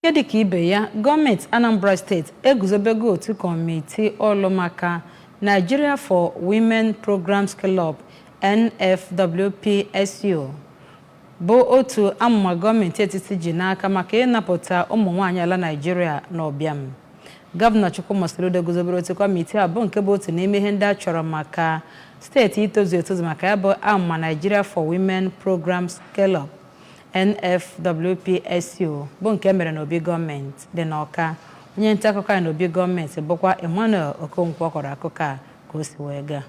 Nke dịka ibe ya, gọọmenti Anambra steeti eguzobego otu kọmiti ọlụ maka Nigeria for Women Program Scale-up, NFWPSU, bụ otu amụma gọọmenti etiti ji n'aka maka ịnapụta ụmụnwaanyị ala Naịjirịa n'ụbịam. Gọvanọ Chukwuma Soludo guzobere otu kọmiti a bụ nke bụ otu n'ime ihe ndị a chọrọ maka steeti itozu etozu maka ya bụ amụma Nigeria for Women Program Scale-up. NFWPSU bụ nke e mere n'obi gọọmenti dị n'Ọka onye nta akụkọ anyị n'obi gọọmenti bụkwa Emmanuel Okonkwo kọrọ akụkọ a ka o si wee gaa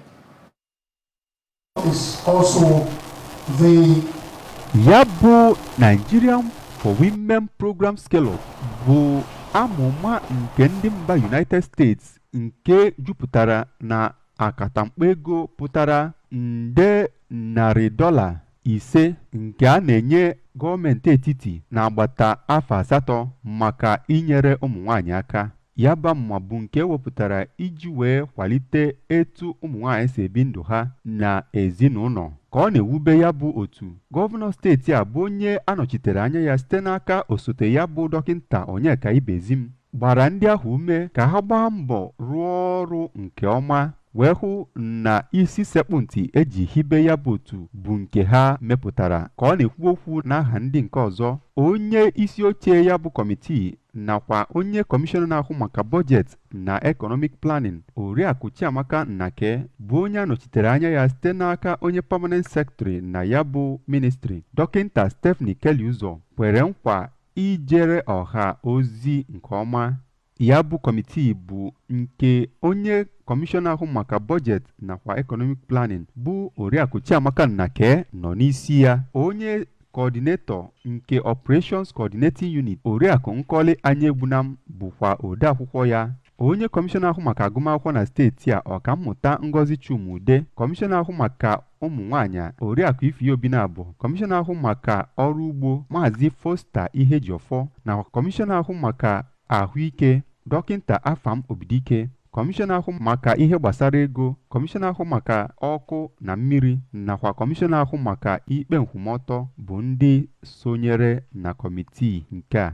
ya bụ Nigerian for Women Program Scale-up bụ amụma nke ndị mba United States nke jupụtara na akatamkpo ego pụtara nde dọla narị ise nke a na-enye gọọmenti etiti n'agbata afọ asatọ maka inyere ụmụ nwaanyị aka ya bụ amụma bụ nke e wepụtara iji wee kwalite etu ụmụ nwaanyị si ebi ndụ ha na ezinụlọ ka ọ na-ewube ya bụ otu gọvanọ steeti a bụ onye a nọchitere anya ya site n'aka osote ya bụ dọkịnta Onyeka Ibezim gbara ndị ahụ ume ka ha gbaa mbọ rụọ ọrụ nke ọma wee hụ na isi sekpụ ntị e ji hibe ya bụ otu bụ nke ha mepụtara ka ọ na-ekwu okwu n'aha ndị nke ọzọ onye isi oche ya bụ kọmitii nakwa onye kọmishọna na-ahụ maka bọjetị na economic planning oriakụ chiamaka nnake bụ onye a nọchitere anya ya site n'aka onye permanent secretary na ya bụ ministri dọkịnta stephanie keri-uzor kwere nkwa ijere ọha ozi nke ọma Ya bụ kọmitii bụ nke onye kọmishọna ahụ maka bọjet nakwa economic planning bụ oriakụ chiamaka nnake nọ n'isi ya onye coordinator nke operations coordinating unit oriakụ nkọli anyaegbunam bụkwa odeakwụkwọ ya onye kọmishọna ahụ maka agụmakwụkwọ na steeti a ọkammụta ngozi chuma-udeh kọmishọna ahụ maka ụmụ nwaanyị oriakụ ify obinabo kọmishọna ahụ maka ọrụ ugbo maazị foster ihejiofor na kọmishọna ahụ maka ahụike dọkịnta afam obidike kọmishọna ahụ maka ihe gbasara ego kọmishọna ahụ maka ọkụ na mmiri nakwa kọmishọna ahụ maka ikpe nkwụmọtọ bụ ndị sonyere na kọmitii nke a